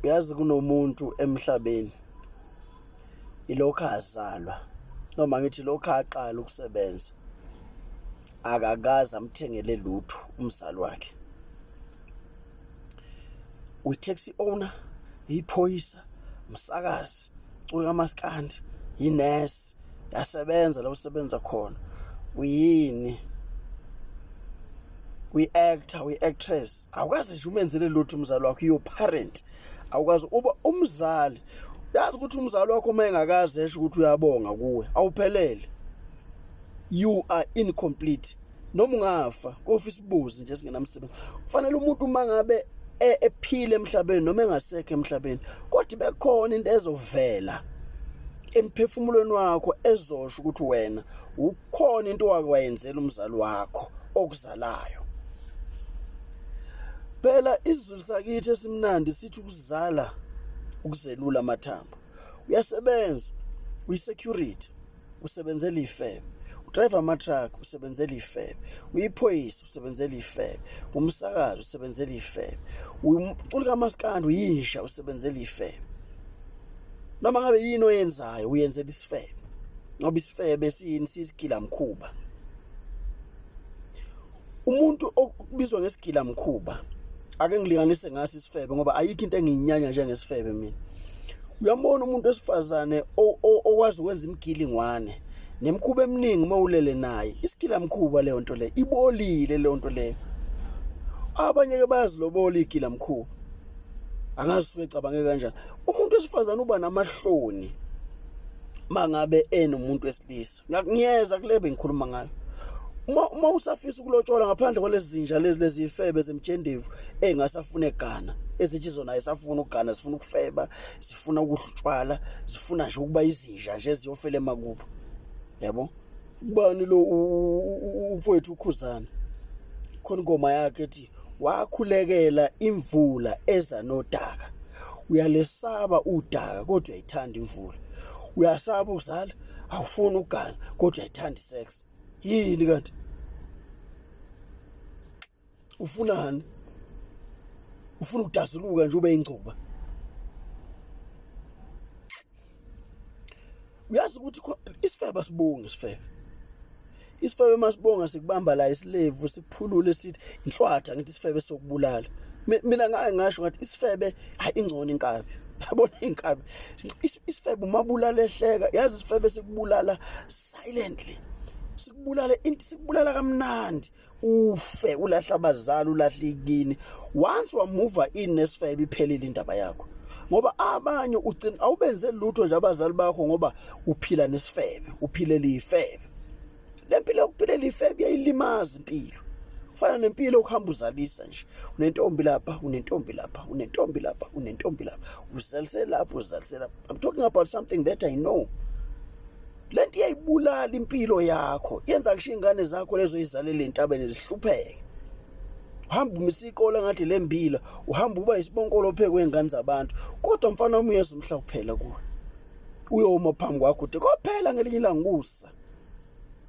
uyazi kunomuntu emhlabeni ilokho azalwa noma ngithi lokho aqala ukusebenza akakaze amthengele lutho umzali wakhe uyi-taxi owner yiphoyisa umsakazi cula kamaskandi yinesi yasebenza la usebenza khona uyini uyi-actor uyi-actress awukazi nje umenzele lutho umzali wakho your parent awukazi uba umzali yazi ukuthi umzali wakho uma engakazi esho ukuthi uyabonga kuwe awuphelele you are incomplete noma ungafa kofa isibuzi nje singenamsebenzi kufanele umuntu uma ngabe e, ephile emhlabeni noma engasekho emhlabeni kodwa bekhona into ezovela emphefumulweni wakho ezosho ukuthi wena ukhona into wake wayenzela umzali wakho okuzalayo phela izulu sakithi esimnandi sithi ukuzala ukuzelula amathambo uyasebenza uyisecurity usebenzela ifebe udrayiva amatruck usebenzela ifebe uyiphoyisa usebenzela ifebe umsakazi usebenzela ifebe umculi kamaskandi uyinja usebenzela ifebe noma ngabe yini oyenzayo uyenzela isifebe ngoba isifebe siyini siyisigila mkhuba umuntu okubizwa ngesigila mkhuba ake ngilinganise ngaso isifebe ngoba ayikho into engiyinyanya njengesifebe mina uyambona umuntu wesifazane okwazi ukwenza imigilingwane nemkhuba eminingi uma ulele naye isigila mkhuba leyo nto leyo ibolile leyo nto leyo abanye ke bayazilobola igila mkhuba angazi usuke ecabangeke kanjani umuntu wesifazane uba namahloni mangabe enomuntu wesilisa ngiyeza kule bengikhuluma ngayo uma uma usafisa ukulotshola ngaphandle kwalezi zinja lezi lezi ifebe zemjendevu engasafune gana ezithi zona ayisafuna ugana zifuna ukufeba zifuna ukuhlutshwala zifuna nje ukuba izinja nje ziyofela emakubo yabo ubani lo umfowethu ukhuzana khona ingoma yakhe ethi wakhulekela imvula eza nodaka uyalesaba udaka kodwa uyayithanda imvula uyasaba ukuzala awufuni ugana kodwa uyayithanda isex yini kanti ufunani ufuna ukudazuluka nje ube ingcuba uyazi ukuthi isifebe asibongi isifebe isifebe masibonga sikubamba la isilevu siphulule sithi inhlwatha ngithi isifebe sokubulala mina ngaye ngasho ngathi isifebe hayi ingcono inkabi yabona inkabi isifebe umabulala ehleka yazi isifebe sikubulala silently sikubulala into sikubulala kamnandi ufe ulahla abazali ulahla ikini once wamuva in nesifebe iphelile indaba yakho ngoba abanye ugcina awubenze lutho nje abazali bakho ngoba uphila nesifebe uphile lifebe lempilo yokuphila lifebe yayilimaza impilo fana nempilo ukuhamba uzalisa nje unentombi lapha unentombi lapha unentombi lapha unentombi lapha uzalise lapha uzalise lapha i'm talking about something that i know le nto iyayibulala impilo yakho yenza kusho iy'ngane zakho lezo yizalele entabeni zihlupheke uhamba umisa iqola ngathi le mbila uhamba uba isibonkolo phekwe iy'ngane zabantu kodwa mfana wami uyeza umhla kuphela kuwe uyoma phambi kwakho uthi kophela ngelinye ilanga ukusa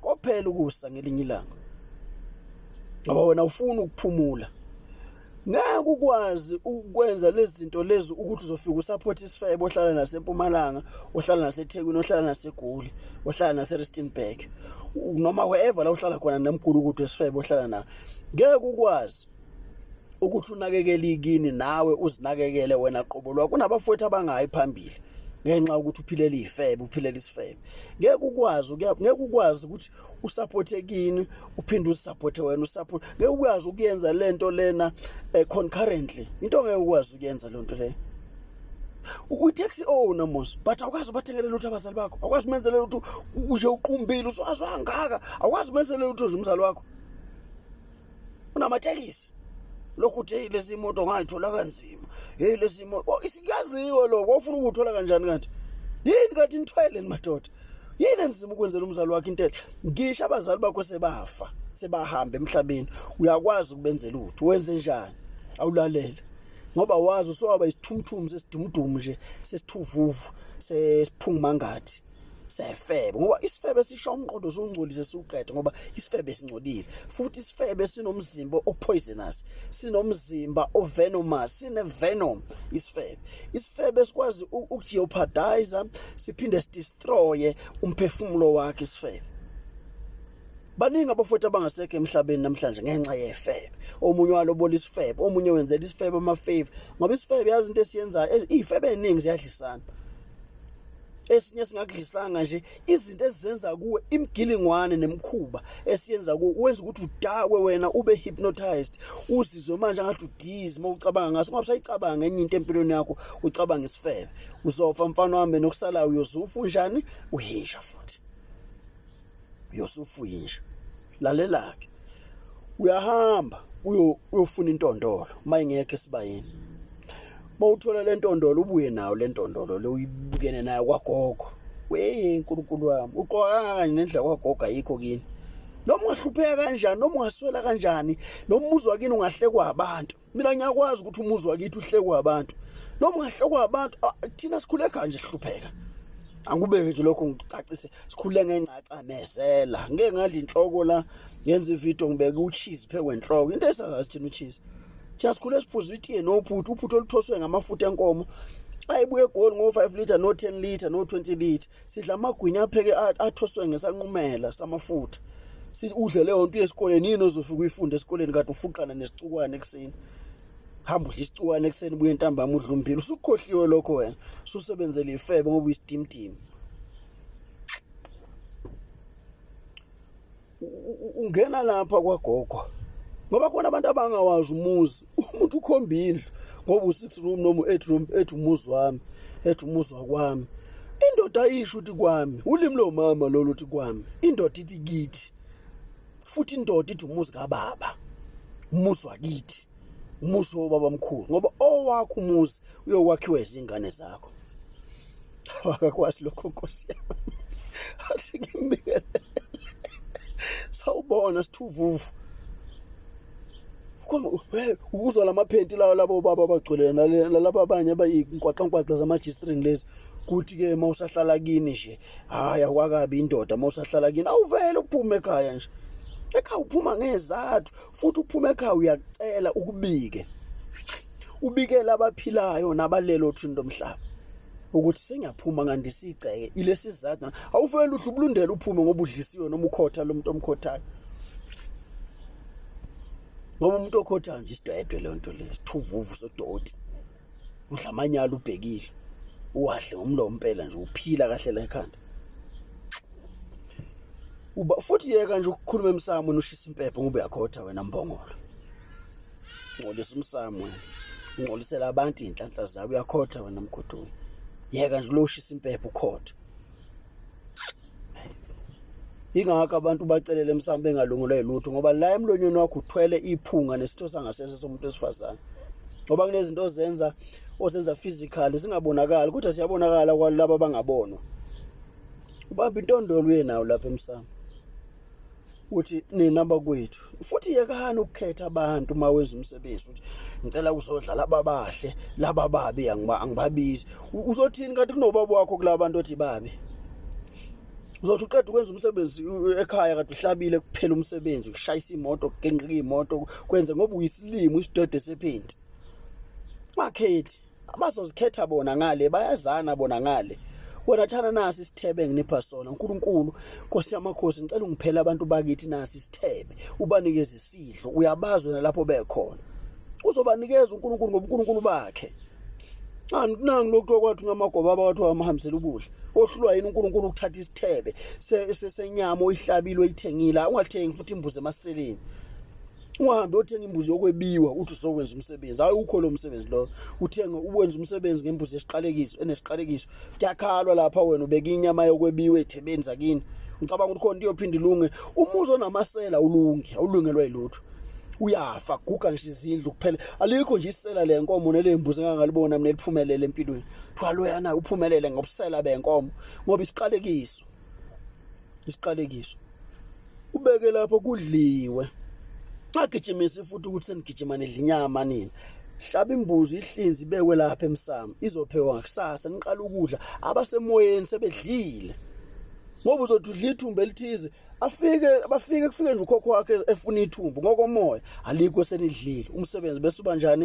kophela ukusa ngelinye ilanga ngoba wena ufuna ukuphumula ngeke ukwazi ukwenza lezi zinto lezi ukuthi uzofika usupport isifebe ohlala nasempumalanga ohlala nasethekwini ohlala nasegoli ohlala naseristonburg noma wherever la uhlala khona nemgulu ukuthi esifebe ohlala na ngeke ukwazi ukuthi unakekele ikini nawe uzinakekele wena qobo lwakho kunabafowethu abangayi phambili ngenxa ukuthi uphilela izifebe uphilela isifebe ngeke ukwazi ngeke ukwazi ukuthi usaphothe kini uphinde uzisaphothe wena usaphothe ngeke ukwazi ukuyenza lento lena eh, concurrently into ngeke ukwazi ukuyenza lento leyo utaxi owner mos but awukwazi ubathengele lutho abazali bakho awukwazi umenzele lutho uje uqumbile uswazi wangaka awukwazi umenzele lutho nje umzali wakho unamatekisi lokhu uthi hey lezi moto ngayithola kanzima hey lezi moto isikaziwe lokho ufuna ukuthola kanjani kanti yini kanti nithwele madoda yini enzima ukwenzela umzali wakhe into enhle ngisho abazali bakho sebafa sebahamba emhlabeni uyakwazi ukubenzela uthu wenze njani awulalele ngoba wazi usowaba isithumthumu sesidumudumu nje sesithuvuvu sesiphungumangathi sefebe ngoba isifebe sisha umqondo usungcolise siwuqede ngoba isifebe singcolile futhi isifebe sinomzimba opoisonous sinomzimba ovenomous sine venom isifebe isifebe sikwazi ukujeopardize siphinde sidestroye umphefumulo wakhe isifebe baningi abafowethu abangasekho emhlabeni namhlanje ngenxa yefebe omunye walobola isifebe omunye wenzela isifebe amafave ngoba isifebe yazi into esiyenzayo izifebe eziningi ziyadlisana esinye singakudlisanga nje izinto ezizenza kuwe imgilingwane nemkhuba esiyenza kuwe wenza ukuthi udakwe wena ube hypnotized uzizwe manje ngathi udizi uma ucabanga ngaso ungabe usayicabanga enye into empilweni yakho ucabanga isifebe uzofa mfana wami nokusalayo uyozufa unjani uhinja futhi uyosufa uyinja lalela-ke uyahamba uyofuna intondolo uma ingekho esibayeni uma uthola le ntondolo ubuye nayo le ntondolo le uyibukene nayo kwagogo weye nkulunkulu wami uqoka kangakanye nendlela kwagogo ayikho kini noma ungahlupheka kanjani noma ungaswela kanjani noma umuzwa kini ungahlekwa abantu mina ngiyakwazi ukuthi umuzi wakithi uhlekwa abantu noma ungahlekwa abantu thina sikhule kanje sihlupheka angikubeke nje lokho ngicacise sikhule ngengcaca mesela ngeke ngadla inhloko la ngenza ivideo ngibeke ucheese phe kwenhloko into esazazi thina ucheese thina sikhule siphuza itiye nophuthu uphuthu oluthoswe ngamafutha enkomo ayibuye egoli ngo-5 litre no-10 litre no-20 litre sidla amagwinya apheke athoswe ngesanqumela samafutha udle leyo nto yesikoleni yini ozofika uyifunde esikoleni kade ufuqana nesicukwane ekuseni hamba udla isicukwane ekuseni buye ntambama udla umbili usukukhohliwe lokho wena susebenzele ifebe ngoba uyisidimdimi ungena lapha kwagogo ngoba khona abantu abangawazi umuzi umuntu ukhomba indlu ngoba u-six room noma u-eight room ethi umuzi wami ethi umuzi wakwami indoda ayisho ukuthi kwami ulimi lomama lolu ukuthi kwami indoda ithi kithi futhi indoda ithi umuzi kababa umuzi wakithi umuzi wobaba mkhulu ngoba owakho umuzi uyokwakhiwa izingane zakho akakwazi lokho nkosi yami athi ngimbikele sawubona sithuvuvu ukuzwa lamaphenti lawo labo baba bagcwele nalaba abanye abayinkwaqankwaqla zama-g-string lezi kuthi-ke uma usahlala kini nje hayi akwakabi indoda uma usahlala kini awuvele uphume ekhaya nje ekhaya uphuma ngezathu futhi uphuma ekhaya uyakucela ukubike ubikela abaphilayo nabalelo othini lomhlaba ukuthi sengiyaphuma ngandisa igceke ilesi sizathu awuvele uhlu ubulundela uphume ngoba udlisiwe noma ukhotha lo muntu omkhothayo ngoba umuntu okhothayo nje isidwedwe le nto le sithuvuvu sodoti udlamanyala ubhekile uwahle ngomlomo impela nje uphila kahle la ekhanda uba futhi yeka nje ukukhuluma emsamo ushisa impepho ngoba uyakhotha wena mbongolo ngcolisa umsamo wena ungcolisela abantu inhlanhla zabo uyakhotha wena mgodoyi yeka nje lo ushisa impepho ukhotha ingakho abantu bacelele msamo bengalungulwa yilutho ngoba la emlonyeni wakho uthwele iphunga nesitho sangasese somuntu wesifazane ngoba kunezinto ozenza ozenza physically zingabonakali kodwa siyabonakala kwalabo abangabonwa ubamba intondolo uye nawo lapha emsamo uthi nina bakwethu futhi yekani ukukhetha abantu uma wenza umsebenzi uthi ngicela kuzodla laba bahle laba babi angibabizi uzothini kanti kunobaba wakho kulaba bantu othi babi uzothi uqeda ukwenza umsebenzi ekhaya kade uhlabile kuphela umsebenzi ukushayisa imoto kugenqika imoto kwenze ngoba uyisilimo isidode sephenti wakhethi abazozikhetha bona ngale bayazana bona ngale wena thana nasi isithebe enginipha sona uNkulunkulu Nkosi yamakhosi ngicela ungiphele abantu bakithi nasi isithebe ubanikeze isidlo uyabazi wena lapho bekhona uzobanikeza uNkulunkulu ngoba uNkulunkulu bakhe anginangi lokuthiwa kwathi unyamagoba abawathi wamahambisela ukudla ohlulwa yini uNkulunkulu ukuthatha isithebe senyama oyihlabile oyithengile ungathengi futhi imbuzi emaseleni ungahambe othenga imbuzi yokwebiwa uthi uzokwenza umsebenzi hayi ukho lo msebenzi lo uthenge uwenza umsebenzi ngembuzi esiqalekiso enesiqalekiso kuyakhalwa lapha wena ubeka inyama yokwebiwa ethebeni zakini ngicabanga ukuthi khona iyophinda ilunge umuzi onamasela ulunge awulungelwa yilutho uyafa guga ngisho izindlu kuphela alikho nje isela le nkomo nelembuzi engangalibona mina liphumelele empilweni kuthiwa loyana uphumelele ngobusela benkomo ngoba isiqalekiso isiqalekiso ubeke lapho kudliwe agijimisi futhi ukuthi senigijima nidla inyama nini hlaba imbuzi ihlinzi ibekwe lapha emsamo izophekwa ngakusasa niqala ukudla abasemoyeni sebedlile ngoba uzothi udla ithumba elithize afike bafike kufike nje ukhokho wakhe efuna ithumbu ngokomoya alikho senidlile umsebenzi bese ubanjani